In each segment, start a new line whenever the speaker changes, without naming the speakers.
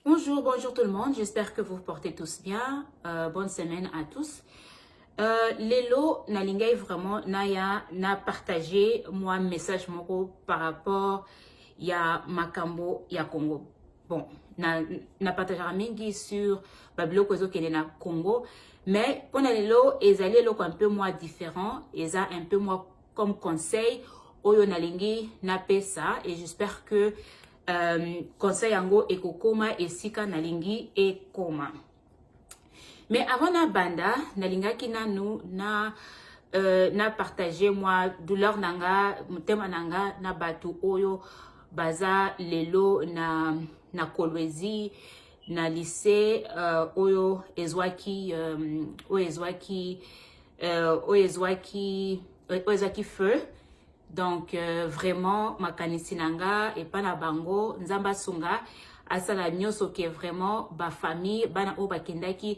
Bonjour, bonjour tout le monde. J'espère que vous vous portez tous bien. Euh, bonne semaine à tous. Euh, lelo nalingai vraiment naya na partager moi message moko par rapport ya makambo ya Congo. Bon, na, na partagera mingi sur babiloko ezokende na Congo, mais pona lelo ezali eloko un peu moins différent, eza un peu moins comme conseil oyo nalingi napesa et j'espère que euh, conseil yango ekokoma esika nalingi ekoma mais avant nabanda nalingaki nanu na euh, na partage mwa douleur na nga motema na nga na bato oyo baza lelo na, na kolwezi na lycée euh, oyo ezwaki euh, oyo ezwaki euh, oyo ezwaki oyo ezwaki feu donc euh, vraiment makanisi na nga epa na bango nzambe asunga asala nyonso ke vraiment bafamille bana oyo bakendaki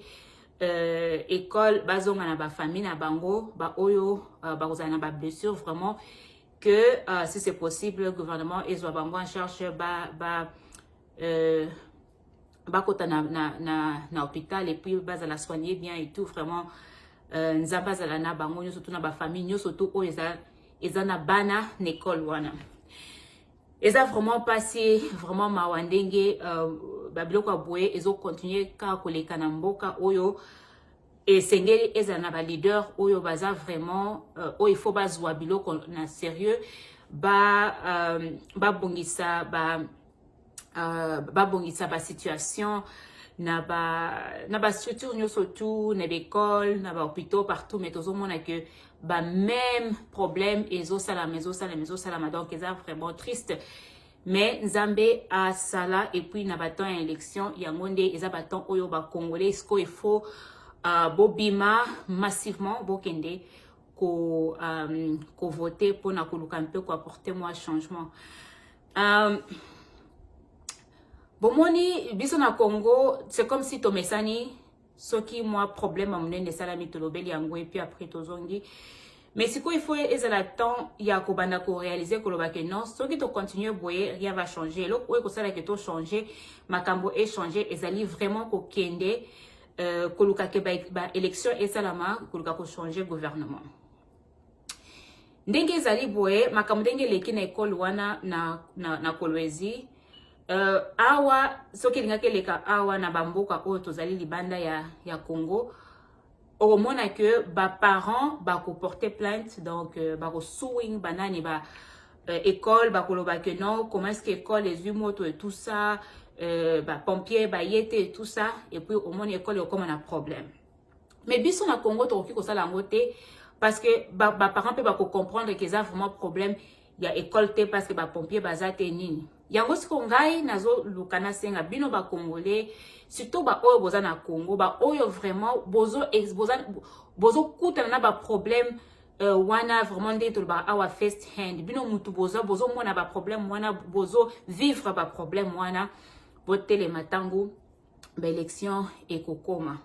euh, école bazonga na bafamille na bango baoyo euh, bakozala na bablessure vraiment que euh, si c'est possible gouvernement ezwa bango en charge ba, ba euh, bakota na, na, na, na hôpital et puis bazala soigner bien et tout vraiment euh, nzambe azala na bango nyonso to na bafamille nyonso to oyo eza, eza na bana na ekole wana eza vraiment mpasi vraiment mawa ndenge euh, babiloko ya boye ezokontinue kaka koleka na mboka oyo esengeli ezala na baleader oyo baza vraiment euh, oyo ifo bazwa biloko na sérieux babongisa ba, euh, ba euh, babongisa basituation na bastructure ba nyonso tout na baekole na bahôpitaux partout mais tozomona que bameme problème ezosalama ezosalama ezosalama donc eza vraiment triste mais nzambe asala epuis na batemp ya élection yango nde eza batemp oyo bacongolais sikoyo efo uh, bobima massivement bokende ko, um, kovote mpona koluka mpe koapporte mwa changement Um, bomoni biso na Congo c'est comme si tomesani soki mwa problème ya monene esalami tolobeli yango epuis après tozongi mais sikoyo ifo ezala temps ya kobanda korealize koloba ke non soki tocontinue boye rien va changer eloko oyo ekosala ke tochange makambo echange ezali vraiment kokende euh, koluka ke baélection ba esalama koluka kochange gouvernement ndenge ezali boye makambo ndenge eleki na ekole wana na, na, na kolwezi uh, awa soki elingaki eleka awa na bamboka oyo tozali libanda ya, ya congo okomona ke baparent bakoporte plainte donc uh, euh, bakoswing banani ba uh, euh, ekole bakoloba ke non comment est ce que ekole ezwi moto et tout ça uh, bapompier baye te et tout ça et puis omoni ekole okoma na problème mais biso na congo tokoki kosala yango te parce que baparent mpe bakocomprendre ke eza vraiment problème ya école te parce que bapompier baza te nini yango siko ngai nazoluka nasenga bino bacongolais surtout baoyo boza na congo baoyo vraiment bozokutana bozo, bozo na baproblème Euh, wana vraiment ndenge tolobaka awa first hand bino mutu boza bozomona baproblème wana bozo vivre baproblème wana botelema ntango ba election ekokoma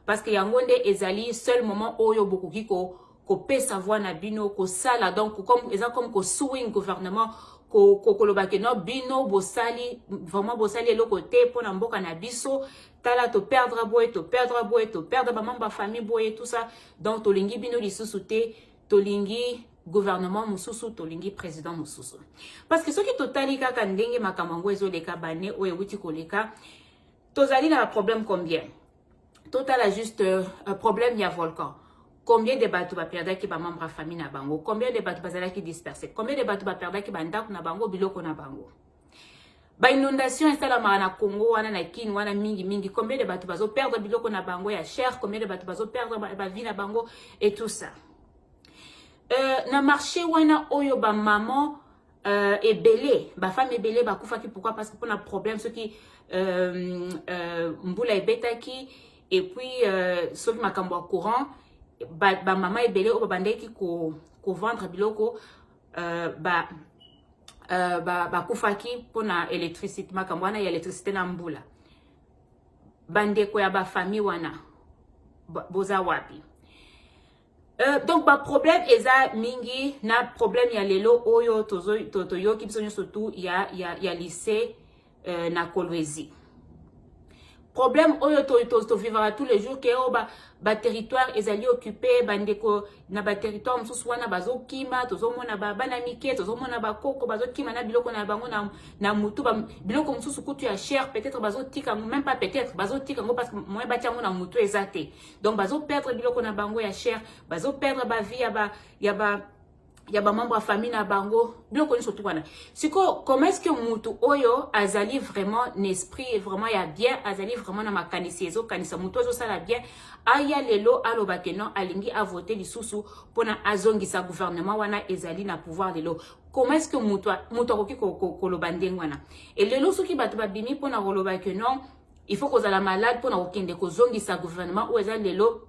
parce que yango nde ezali seul moment oyo bokoki ko kopesa voix na bino kosala donc comme eza comme ko suing gouvernement koloba ke no bino bosali vraiment bosali eloko te mpo na mboka na biso tala toperdra boye toperdra boye toperdra bamambe ya famille boye tout ça donc tolingi bino lisusu te tolingi gouvernement mosusu tolingi président mosusu parce que soki totali kaka ndenge makambo yango ezoleka bane oyo ewuti koleka tozali na baproblème combien totala juste euh, problème ya volcan combien de bato baperdaki bamembre ya famille na bango combien de bato bazalaki disperse combien de bato baperdaki bandako na bango biloko na bango Ba inondation esalamaka na Congo wana na Kin wana mingi mingi, combien de bato bazo perdre biloko na bango ya cher, combien de bato bazo perdre ba vie na bango et tout ça. Euh, na marché wana oyo ba maman euh, ebele ba femme ebele bakufaki pourquoi parce que pona problème soki euh, euh, mbula ebetaki et puis euh, soki makambo ya courant ba, ba mama ebele oyo babandaki ko, ko vendre biloko uh, ba uh, ba bakufaki mpo na electricité makambo wana ya electricité na mbula bandeko ya bafamille wana boza wapi Euh, donc baproblème eza mingi na problème ya lelo oyo toyoki to, to, biso nyonso tu ya, ya, ya lycée euh, na kolwezi problème oyo tovivaka to, to tous les jours ke oyo oh, baterritoire ba ezali occupe bandeko na baterritoire mosusu wana bazokima tozomona bana mike tozomona bakoko bazokima na biloko na bango na, na motu ba, biloko mosusu kutu ya cher peut-être bazotika yango même pas peut-être bazotika yango parce que moyen batya yango na motu eza te donc bazoperdre biloko na bango ya cher bazoperdre bavie ya ba, ya ba ya bamambo ya famille na bango biloko nyonso tu wana sikoyo comment est ce que motu oyo azali vraiment na esprit vraiment ya bien azali vraiment na makanisi ezokanisa motu azosala bien aya lelo aloba ke non alingi avote lisusu mpona azongisa gouvernement wana ezali na pouvoir lelo comment est ce que motu akoki koloba ndenge wana e lelo soki bato babimi mpona koloba ke non il faut kozala malade mpona kokende kozongisa gouvernement oyo eza lelo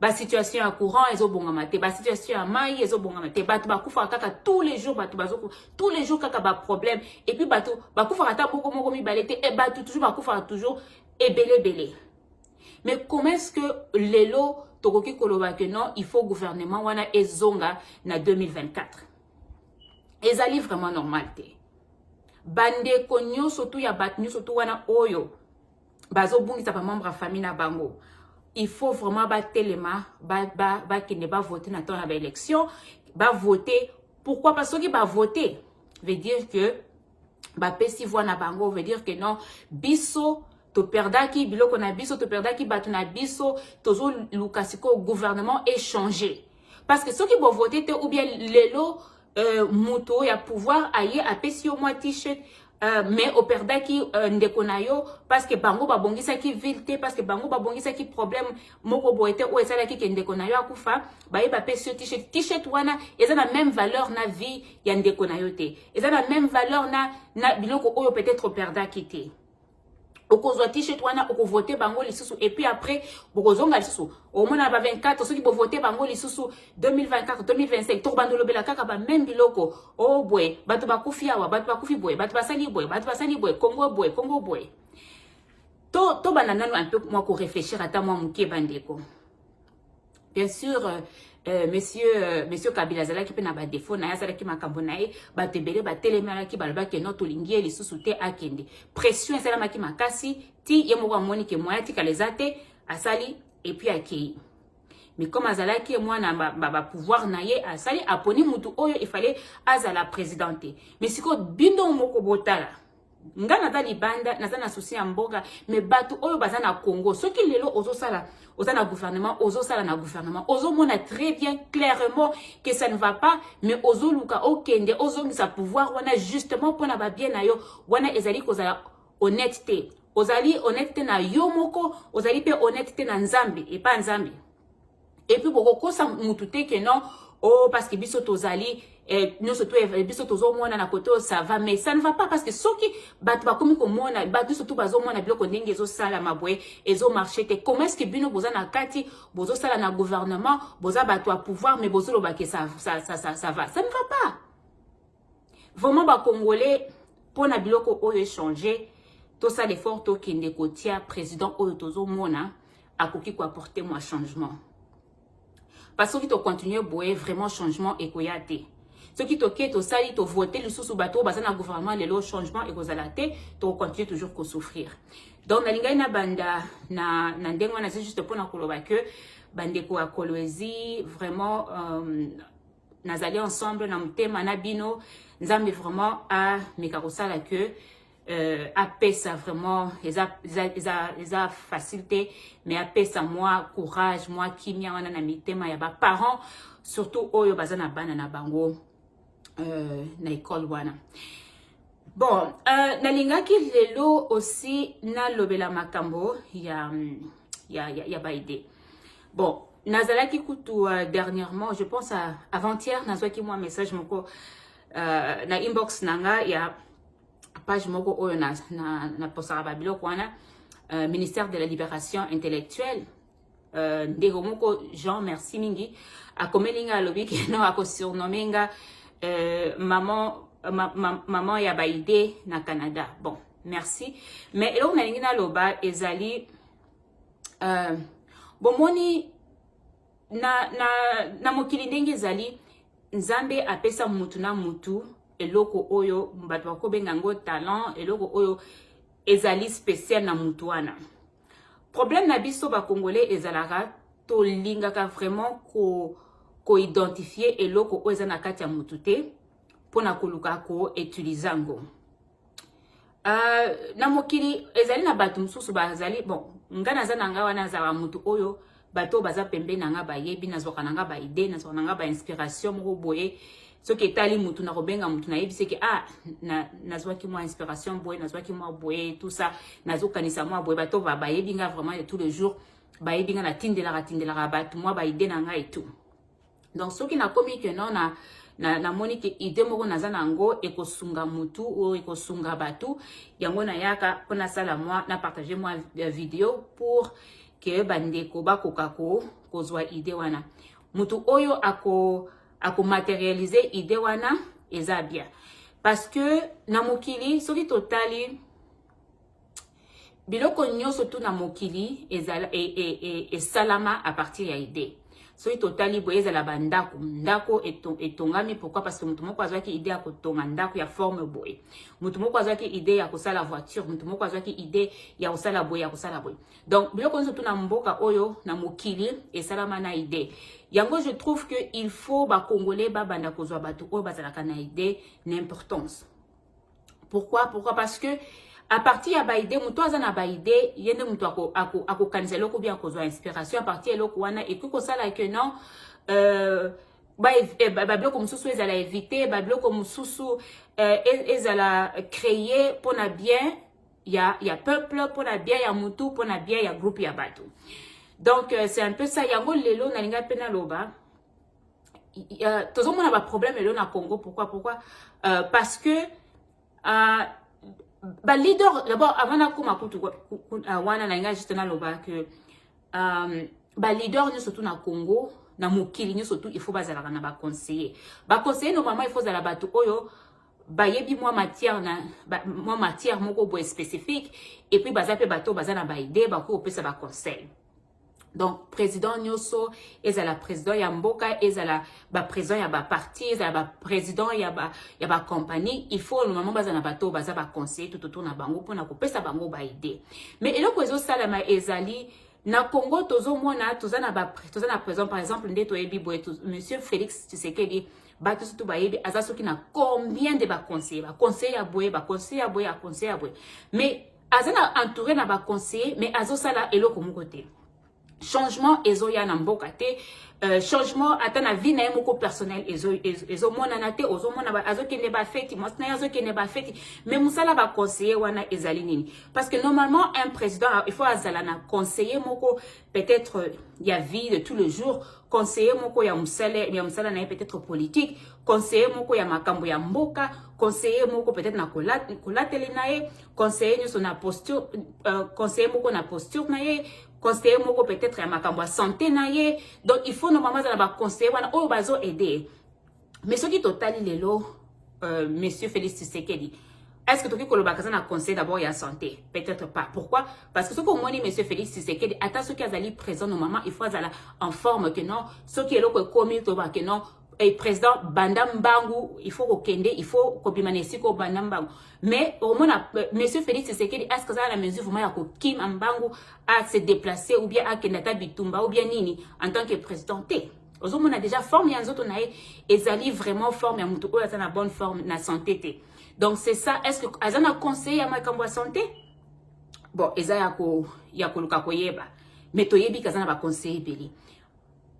ba situation ya courant ezobongama te ba situation ya mai ezobongama te bato bakufaka kaka tous les jours bato bazoku tous les jours kaka ba problème et puis bato bakufaka ata boko moko mibale te e bato toujours bakufaka toujours ebele ebele mais comment est-ce que lelo tokoki koloba que non il faut gouvernement wana ezonga na 2024 ezali vraiment normal te bandeko nyonso tu ya bato nyonso tu wana oyo bazobungisa bamembre ya famille na bango il faut vraiment batelema bakende ba, ba bavote na temps ya baélection bavote pourquoi pas soki bavote veut dire que bapesi voix na bango veut dire que non biso toperdaki biloko na biso toperdaki bato na biso tozoluka sikoyo gouvernement échange parce que soki bovote te ou bien lelo euh, moto ya pouvoir aye apesi yo mwa t-shirt Euh, mais operdaki euh, ndeko na yo parce que bango babongisaki ville te parce que bango babongisaki problème moko boye te oyo esalaki ke ndeko na yo akufa baye bapesi yo t-shirt t-shirt wana eza na même valeur na vie ya ndeko na yo te eza na même valeur na, na biloko oyo peut-être operdaki te okozwa t-shirt wana okovote bango lisusu et puis après bokozonga lisusu omona ba 24 soki bovote bango lisusu 2024 2025 tokobanda olobela kaka ba meme biloko o oh, boye bato bakufi awa bato bakufi boye bato basali boye bato basali boye kongo boye kongo boye tobanda to nanu un peu mwa koreflechir ata mwa moke bandeko bien sûr euh, euh, monsieur euh, monsieur kabila azalaki mpe na badefo na ye asalaki makambo na ye bato ebele batelemelaki balobaki no tolingi ye lisusu te akende pression esalamaki makasi ti ye moko amoni ke moya atikala eza te asali epuis akei mais comme azalaki mwana bapouvoir na ye asali aponi motu oyo efale azala président te mais sikoyo bino moko botala nga naza libanda naza na souci ya mboka me bato oyo baza na congo soki lelo ozosala oza na gouvernement ozosala na gouvernement ozomona très bien clairement que ça ne va pas mais ozoluka okende ozongisa pouvoir wana justement mpona babie na yo wana ezali kozala honnête te ozali honnête te na yo moko ozali mpe honnête te na nzambe epa nzambe et puis bokokosa mutu te que non oh parce que biso tozali eh, nyonso to eh, biso tozomona na kote oyo ça va mais ça ne va pas parce que soki bato bakomi komona bato nyonso to bazomona biloko ndenge ezosalama boye ezomarche te comment est ce que bino boza na kati bozosala na gouvernement boza bato ya pouvoir mais bozolobake ça, ça, ça, ça, ça va ça ne va pas Vraiment ba congolais pona biloko oyo échanger tosala effort tokende kotia président oyo tozomona akoki koapporte mwa changement parce soki tocontinue boye vraiment changement ekoya te soki toke tosali tovote lisusu bato oyo baza na gouvernement lelo changement ekozala te tokocontinue toujours kosouffrir donc nalingaki na banda na, na ndenge wana eza juste mpona koloba ke bandeko ya kolwezi vraiment um, nazali ensemble na motema na bino nzambe vraiment ameka kosala que euh, apesa vraiment eza, eza, eza, eza facile te mais apesa mwa courage mwa kimia wana na mitema ya baparent surtout oyo baza na bana na bango euh, na ekole wana bon euh, nalingaki lelo aussi nalobela makambo ya, ya, ya, ya baide bon nazalaki kutu uh, dernièrement je pense uh, avant-hier nazwaki mwa message moko uh, na inbox na nga ya page moko oyo na, na, na posaka babiloko wana uh, ministère de la libération intellectuelle uh, ndeko moko jean merci mingi akomeli nga alobi keno akosurnomme nga uh, maman, ma, ma, maman ya baide na canada bon merci mais eloko nalingi naloba ezali uh, bomoni na, na, na mokili ndenge ezali nzambe apesa mutu na mutu eloko oyo bato bakobenga yango talent eloko oyo ezali special na mutu wana problème na biso bacongolais ezalaka tolingaka vraiment ko koidentifie eloko oyo eza na kati ya mutu te mpo na koluka koutilize yango Uh, na mokili ezali na bato mosusu bazali bon ngai naza na ngai wana azala moto oyo bato oyo baza pembeni na ngai bayebi nazwaka na ngai baide nazwaka na ngai bainspiration moko boye soki etali motu na kobenga motu nayebi seke ah nazwaki na mwa inspiration boye nazwaki mwa boye tout ça nazokanisa mwa boye bato bayebi ngai vraiment de tous les jours bayebi ngai natindelaka tindelaka bato mwa baide na ngai et tout donc soki nakomi ke non na namoni na ke ide moko naza na yango ekosunga mutu oyo ekosunga bato yango nayaka mpo nasala mwa na partage mwa euh, video pour ke bandeko bakoka ko kozwa ide wana mutu oyo ako akomaterialize ide wana eza bien parce que na mokili soki totali biloko nyonso tu na mokili ezala e, e, e, esalama a partir ya idee soki totali boye ezala bandako ndako etongami pourkui parce que moto moko azwaki idee ya kotonga ndako ya forme boye moto moko azwaki idee ya kosala voiture moto moko azwaki idee ya kosala boye ya kosala boye donc biloko nyonso tuna mboka oyo na mokili esalama na idee yango je trouve que il faut bacongolais babanda kozwa bato oyo bazalaka na idee na importance pourquoi pourquoi parce que à partir ya baide moto aza na baide ye nde moto akokanisa ako, ako eloko bien akozwa inspiration à partir ya eloko wana ekoki kosala que non euh, eh, babiloko mosusu ezala évite babiloko mosusu euh, e, ezala créer mpo na bien ya, ya peuple mpo na bien ya motu mpo na bien ya groupe ya bato donc euh, c'est un peu ça yango lelo nalinga mpe naloba euh, tozomona baproblème lelo na congo pourquoi pourquoi euh, parce que euh, baleader d'abord avant nakoma kutu euh, wana na ngai juste naloba que euh, baleader nyonso tu na congo na mokili nyonso tu il faut bazalaka na baconseiller baconseiller normalement il faut ozala bato oyo bayebi mwa matière na ba, mwa matière moko boye spécifique et puis baza mpe bato baza na baide bakoki kopesa baconseil donc président nyoso ezala président ya mboka ezala baprésident ya baparti ezala baprésident ya bacompagnie ba il faut normalement baza na bato baza baconseiller tout autour na bango mpona kopesa bango baide mais eloko ezosalama ezali na congo tozomona toza na toza na président par exemple nde toyebi boye monsieur félix tshisekedi bato surtout bayebi aza soki na combien de baconseiller baconseiller ya boye baconseiller ya boye aconseiller ya boye mais aza na entouré na ba conseiller mais azosala eloko moko te changement ezoya na mboka te euh, changement ata na vie na ye moko personnel ezomonana te ozomona azokende bafeti mwasi na ye azokende bafeti mais mosala baconseiller wana ezali nini parce que normalement un président il faut azala na conseiller moko peut-être euh, ya vie de tous les jours conseiller moko ya mosala ya mosala na ye peut-être politique conseiller moko ya makambo ya mboka conseiller moko peut-être na kolateli na ye conseiller nyoso na posture euh, conseiller moko na posture na ye conseiller moko peut-être ya makambo ya santé na ye donc il faut normalement azala ba conseiller wana oyo bazo aider mais soki totali lelo euh, monsieur Félix Tshisekedi est-ce que toki koloba kaza na conseil d'abord ya santé peut-être pas pourquoi parce que soki omoni monsieur Félix Tshisekedi ata soki azali présent normalement il faut azala en forme que non soki eloko ekomi toba que non eh, président banda mbangu il faut kokende il faut kobima na esika obanda mbangu mais omona euh, monsieur félix tshisekedi aske azala na mesure vraiment ya kokima mbangu a se déplacer ou bien akende ata bitumba ou bien nini en tant que président te ozomona déjà forme ya nzoto na ye ezali vraiment forme ya motu oyo aza na bonne forme na santé te donc c'est ça est ce que aza na conseiller ya makambo ya santé bon eza ya koluka koyeba mais toyebi kaza na baconseil ebele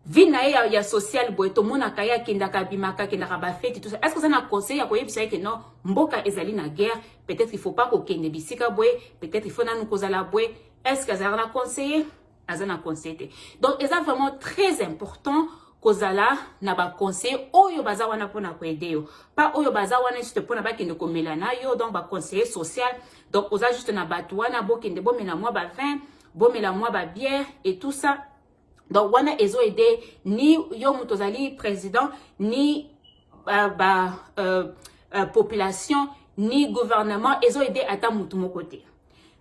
vie na ye ya, ya social boye tomonaka ye akendaka abimaka akendaka bafeti tout ça est ce que oza na conseil ya koyebisa ye ke non mboka ezali na guerre peut-être il faut pas kokende bisika boye peut-être il faut nanu kozala boye est ce que azalaka na conseiller aza na conseil te donc eza vraiment très important kozala na baconseil oyo baza wana mpona koede yo pa oyo baza wana juste mpona bakende komela na yo donc baconseiller social donc oza juste na bato wana bokende bomela mwa ba vin bomela mwa babière et tout ça donc wana ezo aide ni yo moto ozali président ni ba, ba euh, euh, population ni gouvernement ezo aide ata motu moko te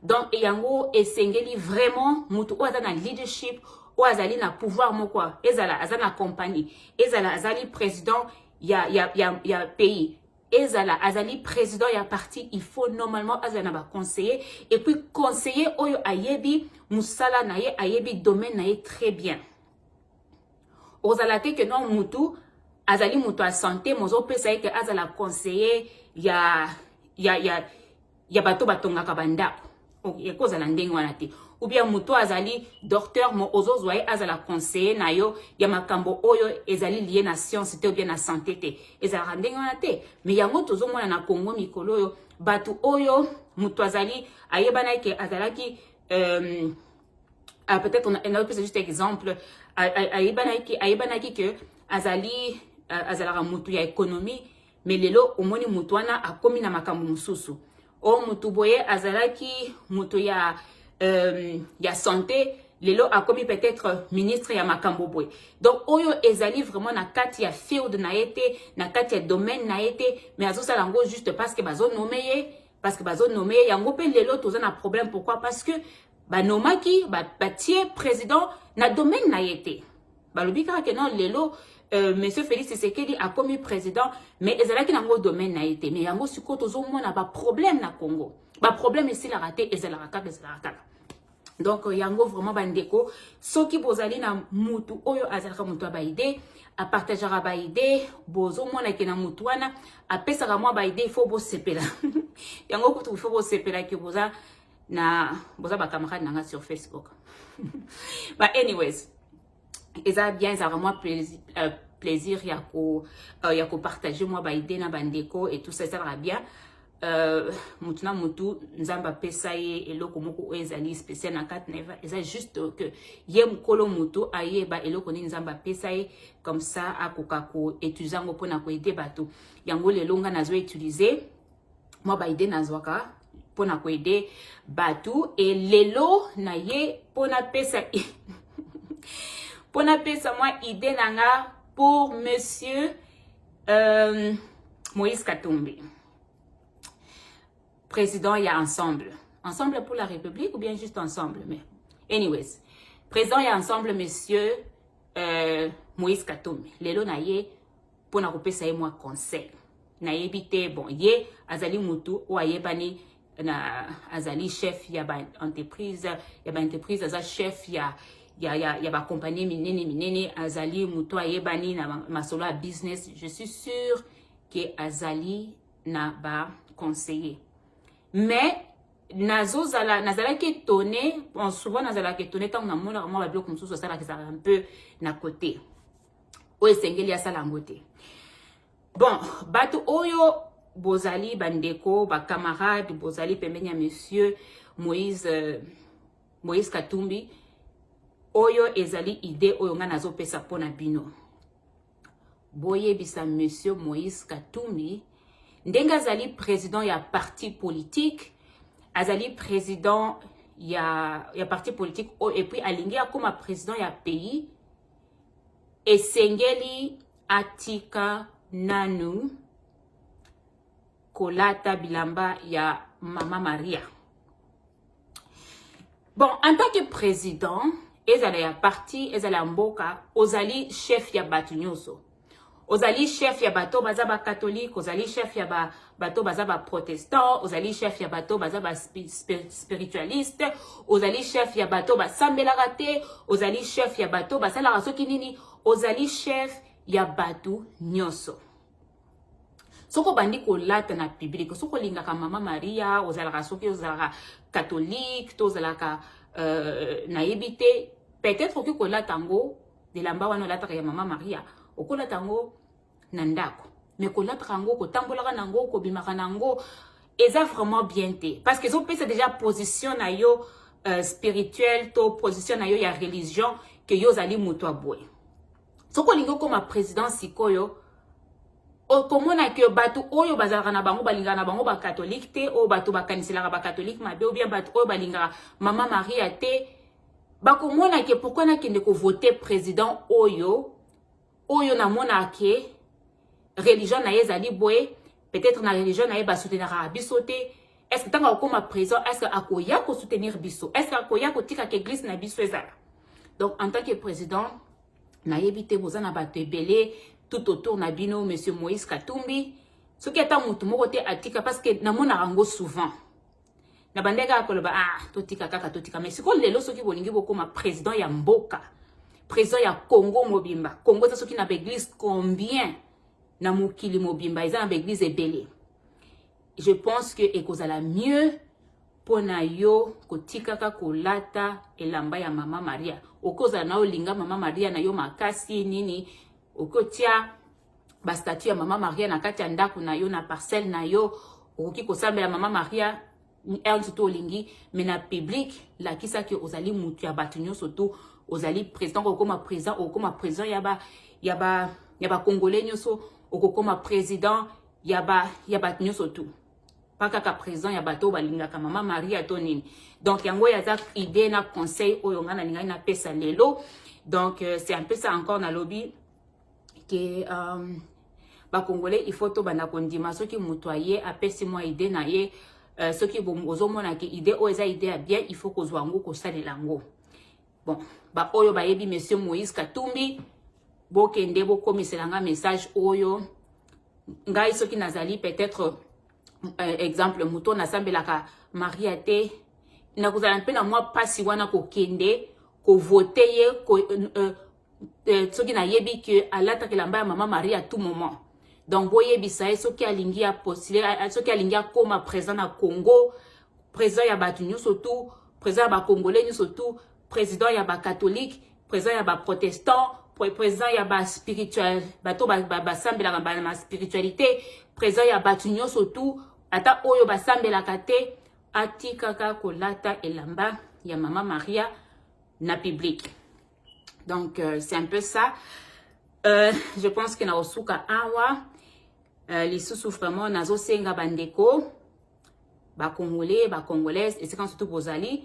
donc yango esengeli vraiment motu oyo aza na leadership oyo azali na pouvoir moko ezala aza na compagnie ezala azali président ya, ya, ya, ya pays ezala azali président ya parti il faut normalement azala na baconseiller et puis conseiller oyo ayebi mosala na ye ayebi domaine na ye très bien ozala te ke non mutu azali moto ya sante mozopesa ye ke azala conseiller ya ya ya ya bato batongaka bandako ekozala ndenge wana te ou bien moto azali docteur mo ozozwa ye azala conseiller na yo ya makambo oyo ezali lie na science te ou bien na santé te ezalaka ndenge wana te mais yango tozomona na congo mikolo oyo bato oyo moto azali ayebanaki ke azalaki euh, ah, peut-être naopesa juste exemple ayebanaki ayebanaki ke azali azalaka moto ya économie me lelo omoni motu wana akomi na makambo mosusu o oh, motu boye azalaki motu ya, euh, ya sante lelo akomi peut-être ministre ya makambo boye donc oyo ezali vraiment na kati ya field na ye te na kati ya domaine na ye te mais azosala yango juste parce que bazonome ye parce que bazonome ye yango mpe lelo toza na problème pourquoi parce que banomaki batie ba president na domaine na ye te balobi kaka ke non lelo Euh, monsieur Félix Tshisekedi akomi président mais ezalaki nango domaine na ye te mais yango sikoyo tozomona baproblème na Congo baproblème esilaka te ezalaka kaka ezalaka kaka donc euh, yango vraiment bandeko soki bozali na mutu oyo azalaka mutu ya baide apartageaka baide bozomona ke na mutu wana apesaka mwa baide il faut bosepela yango kutu il faut bosepela ke boza na boza ba camarade nanga sur facebook but anyways eza bien ezalaka mwa plaisir, uh, plaisir ya ko uh, ya kopartage mwa baide na bandeko et tout ça ezalaka bien Uh, mutu na mutu nzambe apesa ye eloko moko oyo ezali spécial na kati na eva eza juste que ye mokolo motu ayeba eloko nini nzambe apesa ye comme ça akoka koutilize yango mpona koede bato yango lelo ngai nazo utilize mwa ba idée nazwaka mpo na koede bato e lelo na ye mpo napesa mpo napesa mwa idée na nga pour monsieur euh, moïse katumbi président ya ensemble ensemble pour la république ou bien juste ensemble mais anyways président ya ensemble monsieur euh, moïse katumbi lelo na ye mpo na kopesa ye mwa conseil nayebi te bon ye azali motu oyo ayebani na azali chef ya ba entreprise ya ba entreprise aza chef ya ya, ya, ya bakompanie minene minene azali motu ayebani na masolo ya business je suis sûr ke azali na baconseiller mais nazozala nazalaki etone bon souvent nazalaka etone ntango namonaka mwa babiloko mosusu asalaka ezalaka un peu na cote oyo esengeli asala yango te bon bato oyo bozali bandeko bacamarade bozali pembeni ya monsieur moïse euh, moïse katumbi oyo ezali idée oyo ngai nazopesa mpo na bino boyebisa monsieur moïse katumbi ndenge azali président ya parti politique azali président ya, ya parti politique oyo epuis alingi akóma président ya pays esengeli atika nanu kolata bilamba ya mama maria bon en tant que président ezala ya parti ezala ya mboka ozali chef ya bato nyonso ozali chef ya bato baza bakatolike ozali chef ya ba, bato baza baprotestant ozali chef ya bato baza baspiritualiste ozali chef ya bato basambelaka te ozali chef ya bato basalaka soki nini ozali chef ya bato nyonso soki obandi kolata na publike soki olingaka mama maria ozalaka soki ozalaka katolike to ozalaka euh, nayebi te peut-être okoki kolata yango elamba wana olataka ya mama maria okolata yango na ndako me kolataka yango kotambolaka na yango kobimaka na yango eza vraiment bien te parce que ezopesa déjà position na yo euh, spirituelle to position na yo ya religion ke yo ozali moto ya boye soki olingi okoma président sikoyo okomona ke bato oyo bazalaka na bango balingaka na bango bakatholike te oyo bato bakaniselaka bakatholike mabe obien bato oyo balingaka mama maria te bakomona ke pourkui nakende kovote president oyo oyo namona ke religion na ye ezali boye peut-être na religion na ye basoutenaka biso te est-ce que ntango akokoma présent est-ce que akoya kosoutenir biso est-ce que akoya kotika ke eglise na biso ezala donc en tant que président nayebi te boza na bato ebele tout autour na bino monsieur moïse katumbi soki ata motu moko te atika parce que namonaka yango souvent na bande kaka koloba ah totika kaka totika mais sikoyo lelo soki bolingi bokoma président ya mboka président ya congo mobimba congo eza soki na baeglise combien na mokili mobimba eza na baeglise ebele je pense que ekozala mieux mpo na yo kotikaka kolata elamba ya mama maria okozala na olinga mama maria na yo makasi nini okotia ba statut ya mama Maria na kati ya ndako na yo na parcelle na yo okoki kosambela mama Maria heure nso to olingi me na public lakisa ke ozali motu ya bato nyonso to ozali président okokoma président okokoma président ya ba ya ba ya ba congolais nyonso okokoma président ya ba ya bato nyonso tu pa kaka président ya bato oyo balingaka mama maria to nini donc yango oyo aza idée na conseil oyo ngai nalingaki napesa lelo donc euh, c'est un peu ça encore nalobi ke um, bakongole il faut tobanda kondima soki moto aye apesi mwa ide na ye uh, soki ozomona ke ide oyo eza ide ya bien il faut kozwa yango kosalela yango bon baoyo bayebi monsieur moïse katumbi bokende bokomisela nga message oyo ngai soki nazali peut-être euh, exemple moto nasambelaka maria te nakozala mpe na mwa mpasi wana kokende kovote ye ko, euh, euh euh, soki nayebi ke alataka elamba ya mama marie à tout moment donc boyebisa ye soki alingi ya postule soki alingi akoma président na congo président ya bato nyonso tu président ya bacongolais nyonso tu président ya bacatholike président ya baprotestant président ya baspirituel bato basambelaka ba, ba, na spiritualité président ya bato nyonso tu ata oyo basambelaka te atikaka kolata elamba ya mama maria na publike donc euh, c'est un peu ça euh, je pense que nakosuka awa euh, lisusu vraiment nazosenga bandeko bacongolais bacongolaise esika nyonso to bozali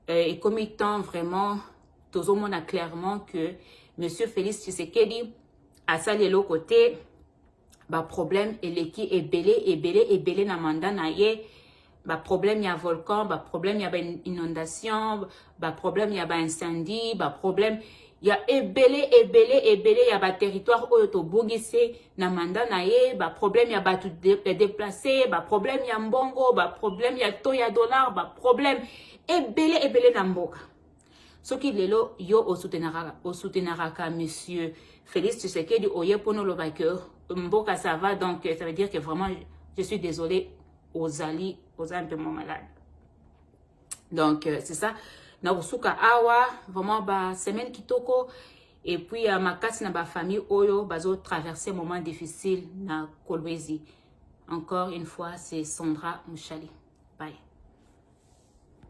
euh, ekomi temps vraiment tozomona clairement que monsieur félix tshisekedi asali eloko te ba problème eleki ebele ebele ebele na mandat na ye ba problème ya volcan ba problème ya ba inondation ba problème ya ba incendie ba problème ya ebele ebele ebele ya ba territoire oyo tobungisi na mandat na ye ba problème ya bato de, ya déplacé ba problème ya mbongo ba problème ya taux ya dollar ba problème ebele ebele na mboka soki lelo yo osoutenaraka monsieur félix tshisekedi oye mpona oloba ke mboka ça va donc ça veut dire que vraiment je suis désolé ozali oza un peu moins malade donc euh, c'est ça nakosuka awa vraiment basemaine kitoko et puis ya euh, makasi na bafamille oyo bazotraverse moment difficile na kolwezi encore une fois c'est sandra mushali bye